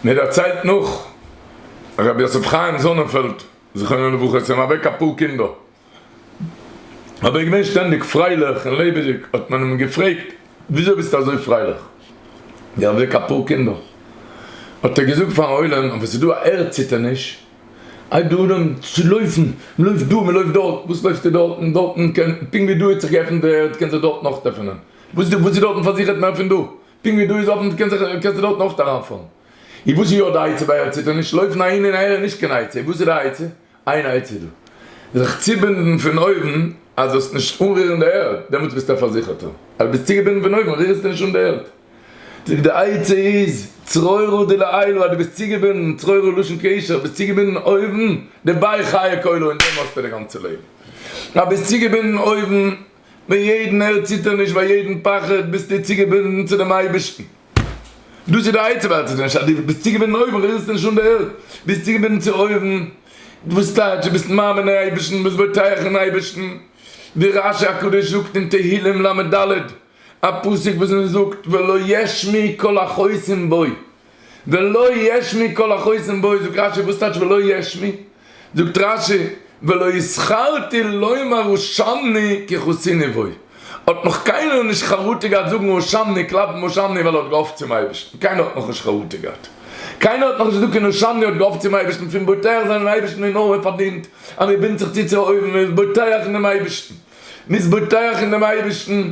מען דערציילט נאך הרב יוסף חיים זאנענפעלד זכרונו לברכה, עס זענען אוועק אפאר קינדער, אבער ער איז געווען שטענדיג פרייליך און לעבעדיג, האט מען אים געפרעגט וויאזוי ביסטו אזוי פרייליך ווי אוועק אפאר קינדער, האט ער געזאגט פארן עולם, אויב עס איז דא א ערד ציטערניש, הייבט דער עולם צו לויפן, מען לויפט דא, מען לויפט דארט, וואס לויפסטו דארטן, דארטן קען, פונקט ווי דא האט זיך געעפנט די ערד קען זיך דארטן נאך עפענען, וואס איז דארטן פארזיכערט מער פון דא, פונקט ווי דא איז אפען קען זיך קענסטו דארטן אויכט אריינפאלן. און וואס איז יא די עצה ביי עצתו נישט לויפן אהין און אהער איז נישט קיין עצה, וואס איז די עצה? איין עצה איז דא. זיך צובינדן פון אויבן אז זאלסט נישט אנרירן די ערד, דעמאלטס ביסטו א פארזיכערטער. אז דו ביסט צוגעבינדן פון אויבן רירסטו נישט אן די ערד. זאג די עצה איז צרורה דלעילא אז דו ביסט צוגעבינדן, צרורה לשון קשר, ביסט צוגעבינדן אויבן, דערביי חיה כלו און דעם האסטו די גאנצע לעבן. אז ביסט צוגעבינדן אויבן. ביי יעדן ערדציטערניש ביי יעדן פחד ביסטו צוגעבינדן צו דעם אייבערשטן, דאס איז די עצם ערדציטערניש אז דו ביסט צוגעבינדן אויבן, רירסט נישט אן די ערד, ביסט צוגעבינדן צו אויבן, וואס טייטש דו ביסט מאמין אין אייבערשטן, ביסט בוטח אין אייבערשטן, ווי רשי הקדוש זאגט אין תהילים לד, א פסוק וואס מען זאגט ולא ישמיע קול החוסם בו. ולא יש מי כל החוסם בו זאגט רשי וואס טייטש ולא יש מי? זאגט רשי ולא הזכרתי לומר הושמני כי חוסיני בו האט נאך קיינער נישט חרטה געהאט זאגן הושמני קלאפן הושמני ווייל ער האט געהאפט צום אייבערשטן קיינער האט נאכנישט חרטה געהאט קיינער האט נאכנישט געזאגט אין הושמני האט געהאפט צום אייבערשטן פון בוטח זיין אין אייבערשטן איז נאר מען פארדינט אז מען בינדט זיך צו צו אויבן מען איז בוטח אין דעם אייבערשטן מען איז בוטח אין דעם אייבערשטן.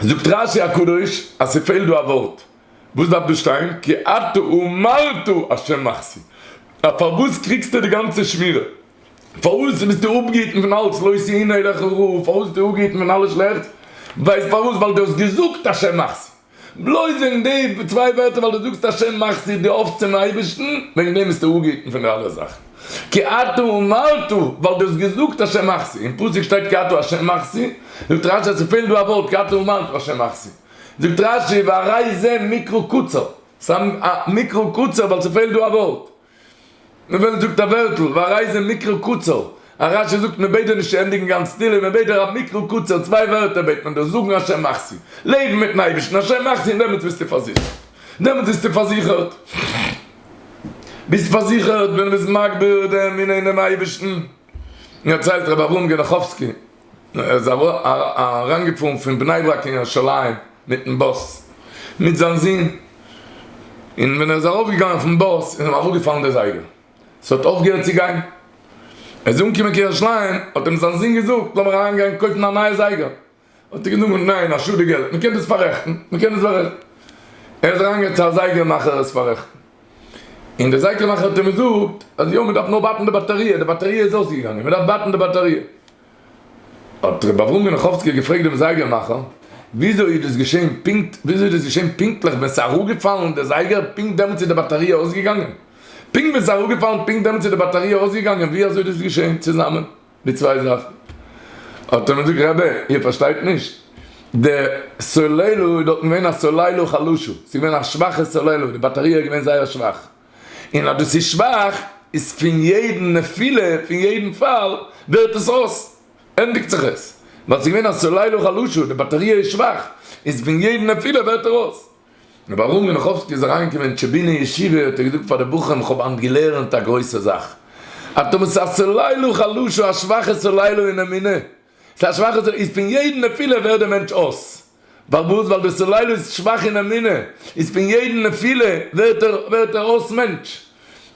זאגט רשי הקדוש אז ס'פעלט דא א ווארט, וואס דארף דא שטיין? כי אתה ומרת השם מחסי, אז פארוואס קריגסטו די גאנצע שמירה? פארוואס ביסטו אפגעהיטן פון אלץ לא עשה אינו לך רע? פארוואס ביסטו אפגעהיטן פון אלע שלעכטס? ווייסט פארוואס? ווייל דו האסט געזאגט השם מחסי. בלויז וועגן די צוויי ווערטער ווייל דו זאגסט השם מאכסטו דיר אויף צום אייבערשטן, וועגן דעם ביסטו אפגעהיטן פון די אלע זאכן. כי אתה אמרת, ווייל דו האסט געזאגט השם מאכסטו, אין פסוק שטייט כי אתה השם מאכסטו, זאגט רש י אז ס'פעלט דא א ווארט כי אתה אמרת השם מאכסטו, זאגט רש י והרי זה מקרא קצר, ס'איז א מקרא קצר ווייל ס'פעלט דא א ווארט, מ'וועלט זאגט א ווערטל, ווערייזען מקרה קצר, א רשע זאגט מען בעט דיר נישט צו ענדיגן גאנץ תהלים, מען בעט דיר א מקרה קצר, צוויי ווערטער בעט מען דיר, זאגן השם מחסי, לעבן מיטן אייבערשטן השם מחסי און דעמאלטס ביסטו פארזיכערט, דעמאלטס ביסטו פארזיכערט, ביסט פארזיכערט ווען מ'איז מגביר דעם ענין דעם אייבערשטן. דערציילט רבי אברהם גענאכאווסקי ער איז אריינגעפארן פון בני ברק קיין ירושלים מיטן באס מיט זיין זון, און ווען ער איז ארויפגעגאנגען פון באס איז אים אראפגעפאלן די זייגער, עס האט אויפגעהערט צו גיין, ער איז אנגעקומען קיין ירושלים האט אים זיין זון געזאגט לאמיר אריינגיין קויפן א נייע זייגער, האט ער געזאגט ניין א שאד די געלט, מען קען דאס פאררעכטן, מען קען דאס פאררעכטן, ער איז אריינגעגאנגען צו א זייגער מאכער עס פאררעכטן. און דער זייקער מאכער האט אים געזאגט אז יא מען דארף נאר ווארטן די באטעריע, די באטעריע איז אויסגעגאנגען מען דארף ווארטן די באטעריע. האט רבי אברהם גענאכאווסקי געפרעגט דעם זייגער מאכער וויאזוי איז דאס געשען פונקט וויאזוי איז דאס געשען פונקטליך ווען ס'איז אראפגעפאלן די זייגער פונקט דעמאלטס איז די באטעריע אויסגעגאנגען? פונקט ווען ס'איז אראפגעפאלן פונקט דעמאלטס איז די באטעריע אויסגעגאנגען ווי אזוי איז דאס געשען צוזאמען? די צוויי זאכן האט ער מיר געזאגט רבי איר פארשטייט נישט די סוללער איז דארטן געווען א סוללער חלשה ס'איז געווען א שוואכע סוללער די באטעריע איז געווען זייער שוואך און אז דאס איז שוואך איז פון יעדן נפילה פון יעדן פאל ווערט עס אויס ענדיגט זיך עס ווייל ס'איז געווען א סוללער חלשה די באטעריע איז שוואך איז פון יעדן נפילה ווערט ער אויס. און ווארום ווען רחבסקי איז אריינגעקומען אין טשעבינער ישיבה האט ער געזאגט פאר די בחורים איך האב היינט געלערנט א גרויסע זאך, אתה מסר סלעילא חלשא א שוואכע סלעילא אין אמונה, ס'איז א שוואכע סלעילא, איז פון יעדן נפילה ווערט דער מענטש אויס, פארוואס? ווייל דער סלעילא איז שוואך אין אמונה, איז פון יעדן נפילה ווערט ער ווערט ער אויס מענטש,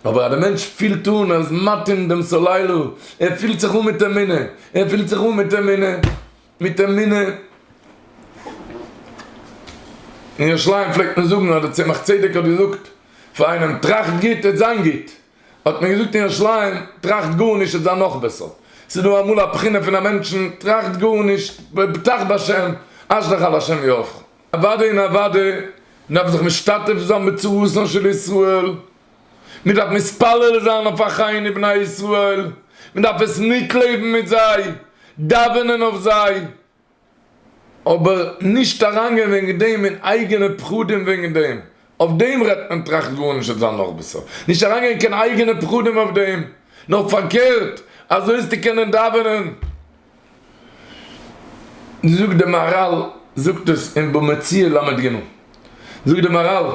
אבער אז דער מענטש פילט אן אז ער איז מתאים דעם סלעילא, ער פילט זיך אן מיט אמונה, ער פילט זיך אן מיט אמונה. מיט אמונה. אין ירושלים פלעגט מען זאגן, אדער צמח צדק האט געזאגט פאר איינעם, טראכט גוט העט זיין גוט. האט מען געזאגט אין ירושלים, טראכט גארנישט העט זיין נאך בעסער. ס'איז דא אמאל א בחינה פון א מענטשן, טראכט גארנישט, בטח בהשם, אשליך על השם יהפכו. אוודאי און אוודאי, מ'דארף זיך משתתף זיין בצרותן של ישראל. מען דארף מתפלל זיין אויף אחיי ני בני ישראל, מען דארף עס מיטלעבן מיט זיי, דאווענען אויף זיי, אבער נישט אריינגיין וועגן דעם אין אייגענע פחדים וועגן דעם, אויף דעם רעדט מען טראכט גארנישט עס זאל נאך בעסער, נישט אריינגיין קיין אייגענע פחדים אויף דעם, נאר פארקערט, אזוי וועסטו קענען דאווענען. זאגט די מהרל זאגט עס אין בא מציעא ל ג, זאגט די מהרל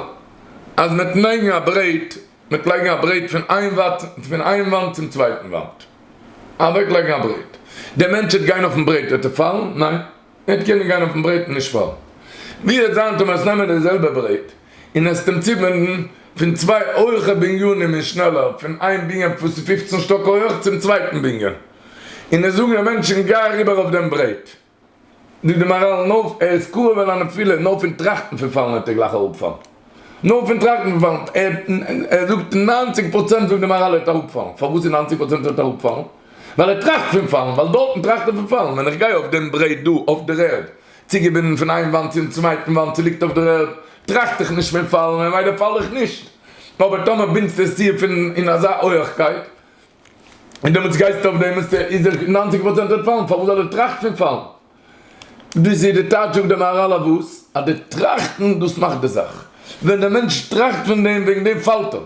אז מען האט לייגן א ברעט, מען האט לייגן א ברעט פון איין וואט פון איין וואנט צום צווייטן וואנט, אוועק לייגן א ברעט, דער מענטש וועט גיין אויפן ברעט וועט ער פאלן? ניין, ער וועט קענען גיין אויפן ברעט און נישט פאלן, ווי וועט זיין טאמער וועסט נעמען די זעלבע ברעט און עסט אים צובינדן פון צוויי הויכע בנינים און שנעלער פון איין בנין וואס איז פופצן שטאק הויעך צום צווייטן בנין? און עס זאגן אים מענטשן גיי אריבער אויף דעם ברעט, דו דעמאראלן אויף, ער איז כאב על הנפילה, נאר פון טראכטן פון פאלן וועט ער גלייך אראפפאלן, נאר פון טראכטן פון פאלן, ער זאגט ניינציג פראצענט זאגט די מאראל ער וועט אראפפאלן, פארוואס איז ניינציג פראצענט ער וועט אראפפאלן? ווייל ער טראכט פון פאלן, ווייל דארטן טראכט ער פון פאלן, ווען איך גיי אויף דעם ברעט דא אויף דער ערד, צוגעבינדן פון איין וואנט צום צווייטן וואנט צו ליגט אויף דער ערד, טראכט איך נישט פון פאלן, ממילא פאל איך נישט, אבער טאמער בינדסטו עס צו פון אין אזא הויעכקייט, און דעמאלטס גייסטו אויף דעם אז איז דער נײַנציק פראצענט וועט פאלן, פארוואס זאל ער טראכטן פון פאלן? דאס איז די טייטש זאגט דער מהרל אויף וואס? אז די טראכטן דאס מאכט די זאך. ווען דער מענטש טראכט פון דעם וועגן דעם פאלט ער.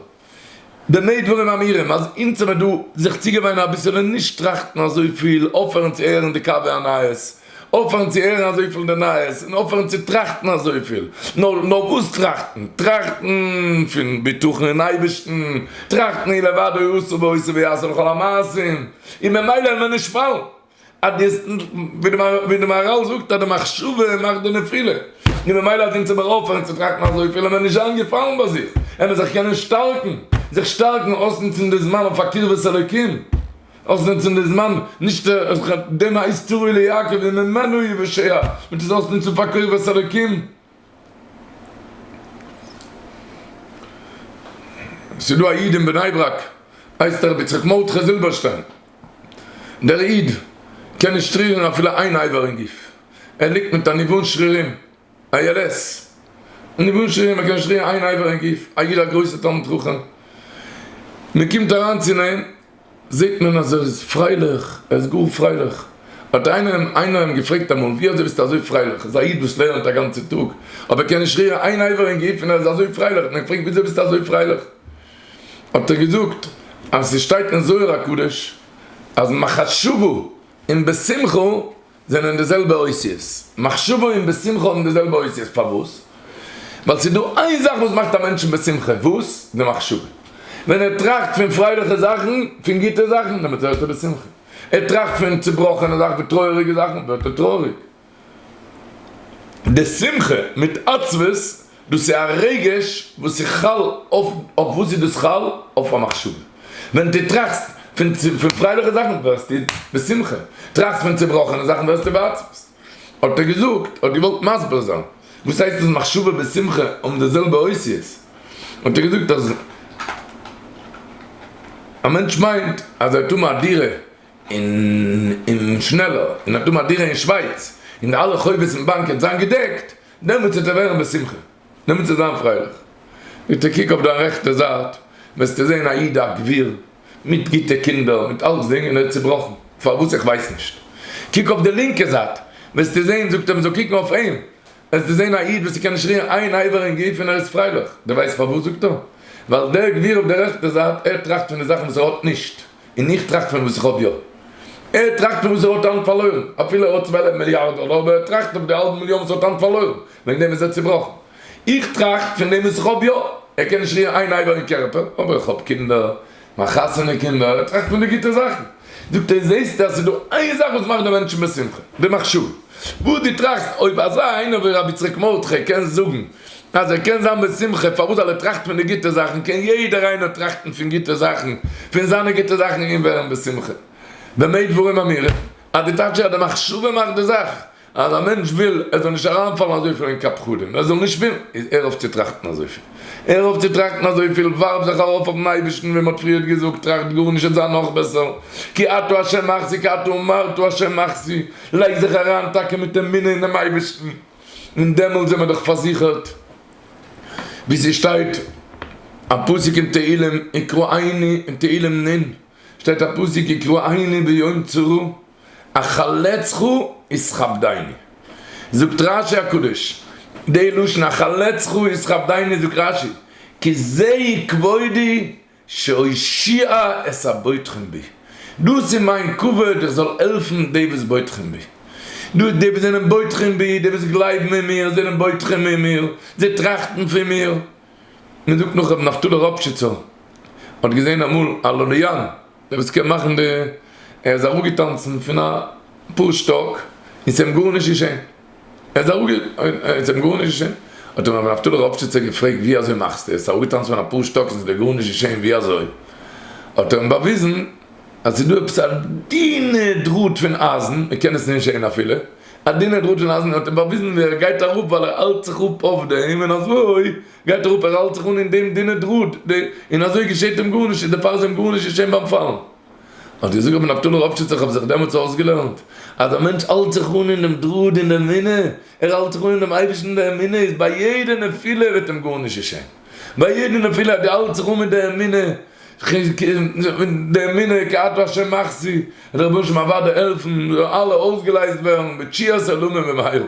במה דברים אמורים אז אונז האמיר דא זיך צוגעוואינען אביסעלע נישט טראכטן אזויפיל, אויפהערן צו הערן די קאווע נייעס, אויפהערן צו הערן אזויפיל אין די נייעס און אויפהערן צו טראכטן אזויפיל. נאר נאר וואס טראכטן? טראכטן פון בטחון אין אייבערשטן, טראכטן אי לבדו הוא עושה ועושה ויעשה לכל המעשים, און ממילא וועלן מיר נישט פאלן. אז די, ווי די מהרל זאגט אז די מחשבה מאכט די נפילה, און ממילא אז אונז מיר אויפהערן צו טראכטן אזויפיל וועלן מיר נישט זיין געפאלן ביי זיך, וועלן מיר זיך קענען שטארקן, זיך שטארקן, אויסנוצן די זמן אויף א קרבת אלוקים. אויך זינט אין די זמן נישט איך האב דעם הייסט תראי ליעקב וממנו יוושע מיט איז אויס נוצן פאר קרבת אלקים ס'איז דא א איד אין בני ברק הייסט הרב יצחק מרדכי זילבערשטיין דער איד קען נישט רירן אפילו איין אייבער אין גוף ער ליגט מיט א ניוון שרירים ALS ניוון שרירים ער קען נישט רירן איין אייבער אין גוף א איד א גרויסע תלמיד חכם מ'קומט אריין צו נעם. זעט מען אז ער איז פרייליך, ער איז גאר פרייליך. האט איינער אים איינער אים געפרעגט אמאל, ווי אזוי ביסטו אזוי פרייליך? ער איז א איד וואס לערנט א גאנצע טאג, אבער קען נישט רירן איין אייוועלט אין גוף און ער איז אזוי פרייליך, האט מען געפרעגט ווי אזוי ביסטו אזוי פרייליך? האט ער געזאגט אז ס'שטייט אין זוהר הקדוש אז מחשבה און בשמחה זענען די זעלבע אותיות. מחשבה און בשמחה האבן די זעלבע אותיות. פארוואס? ווייל ס'איז דא איין זאך וואס מאכט א מענטשן בשמחה. וואס? די מחשבה. ווען ער טראכט פון פרייליכע זאכן, פון גוטע זאכן, דעמאלט ווערט ער בשמחה. ער טראכט פון צובראכענע זאכן, פון טרויעריגע זאכן, ווערט ער טרויעריג. די שמחה מיט עצבות. דאס איז א רגש וואס איז חל אויף, אויף וואס איז דאס חל? אויף א מחשבה. ווען דו טראכסט פון פרייליכע זאכן ווערסטו בשמחה, טראכסט פון צעבראכענע זאכן ווערסטו בעצבות. האט ער געזאגט, האט געוואלט מסביר זיין וואס הייסט אז מחשבה און שמחה האבן די זעלבע אותיות, האט ער געזאגט אז א מענטש מיינט אז ער האט אן א דירה אין שנעלער, און ער האט אן א דירה אין שווייץ, און אלע חובות אין באנק וועט זיין געדעקט, דעמאלטס וועט ער ווערן בשמחה, דעמאלטס וועט ער זיין פרייליך. ביטע קוק אויף דיין רעכטע זייט, וועסטו זען א איד א גביר, מיט גוטע קינדער, מיט אלצדינג, און ער איז צובראכן, פארוואס? איך ווייס נישט. קוק אויף די לינקע זייט, וועסטו זען, זאגט ער מען זאל קוקן אויף אים, וועסטו זען א איד וואס ס'קען נישט רירן איין אייבער אין גוף און ער איז פרייליך. דו ווייסט פארוואס? זאגט ער, ווייל דער גביר אויף די רעכטע זייט, ער טראכט פון די זאכן וואס ער האט נישט. און איך טראכט פון וואס כ'האב יא. ער טראכט פון וואס ער האט היינט פארלוירן. אפילו ער האט צוועלף מיליארד דאלער אבער ער טראכט אויף די האלב מיליאן וואס ער האט היינט פארלוירן. וועגן דעם איז ער צובראכן. איך טראכט פון דעם וואס כ'האב יא. ער קען נישט רירן איין אייבער אין קערפער, אבער איך האב קינדער, מיין חתונה קינדער, ער טראכט פון די גוטע זאכן. זאגט ער, זעסטו אז ס'איז דא איין זאך וואס מאכט די מענטשן בשמחה, די מחשבה וואס דו טראכסט. אויב אזא איינער ווי רבי יצחק מרדכי קען זאגן אז ער קען זיין בשמחה, פארוואס זאל ער טראכטן פון די גוטע זאכן, קען יעדער איינער טראכטן פון גוטע זאכן, פון זיינע גוטע זאכן און ווערן בשמחה. במה דברים אמורים? אז די טייטש איז אז די מחשבה מאכט די זאך, אז א מענטש וויל עס זאל נישט אריינפאלן אזויפיל אין קאפ פחדים, ער זאל נישט ווילן, איז הער אויף צו טראכטן אזויפיל. הער אויף צו טראכטן אזויפיל, ווארף זיך ארויף אויפן אייבערשטן, ווי מען האט פריערט געזאגט, טראכט גארנישט עס זיי נאך בעסער, כי אתה ה' מחזי כי אתה אמרת ה' מחזי, לייג זיך אריין טאקע מיט אמונה אינעם אייבערשטן. און דעמאלט זעמער דאך פארזיכערט, ווי ס'שטייט א פסוק אין תהלים, יקרא עיני, אין תהלים נ' שטייט א פסוק, יקרא עיני ביום צרה, אחלצך ישכבדני. זאגט רש י הקדוש, די לשון אחלצך ישכבדני זאגט רש י, כי זה כבודי שהושיע את הבוטחין בי, דאס איז מיין כבוד איך זאל העלפן די וואס בוטחין בי, דאס די וואס זענען בוטחין בי, די וואס גלייבן אין מיר זענען בוטחין אין מיר, זיי טראכטן פון מיר. מען זאגט נאך רבי נפתלי ראפשיצער האט געזען אמאל א לוליאן דער וואס קען מאכן די, ער איז אראפגעטאנצן פון א פאר שטאק און ס'איז אים גארנישט געשען. ער איז אראפגע עס האט אים גארנישט געשען, האט אים רבי נפתלי ראפשיצער געפרעגט ווי אזוי מאכסטו עס אראפגעטאנצן פון אפאר שטאק און עס איז דיר גארנישט געשען ווי אזוי, האט ער אים באוויזן אז עס איז דא עפעס א דינע דראט פון אייזן מען קען עס נישט זען אפילו, א דינע דראט פון אייזן און האט אים באוויזן ווי ער גייט אראפ ווייל ער האלט זיך אפ אויף דעם און אזוי גייט ער אראפ ער האלט זיך אן אין דעם דינע דראט און אזוי געשעט אים גארנישט און דערפאר איז אים גארנישט געשען ביים פאלן. האט געזאגט רבי נפתלי ראפשיץ איך האב זיך דעמאלטס אויסגעלערנט אז א מענטש האלט זיך אן אין דעם דראד אין דער אמונה, ער האלט זיך אן אין דעם אייבערשטן אין דער אמונה איז ביי יעדע נפילה וועט אים גארנישט געשען, ביי יעדע נפילה אז דו האלטסט זיך אן מיט דער אמונה, די אמונה כי אתה ה' מחסי, וועט דער רבונו של עולם אוודאי העלפן, זאלן אלע אויסגעלייזט ווערן בתשיית עולמים במהרה.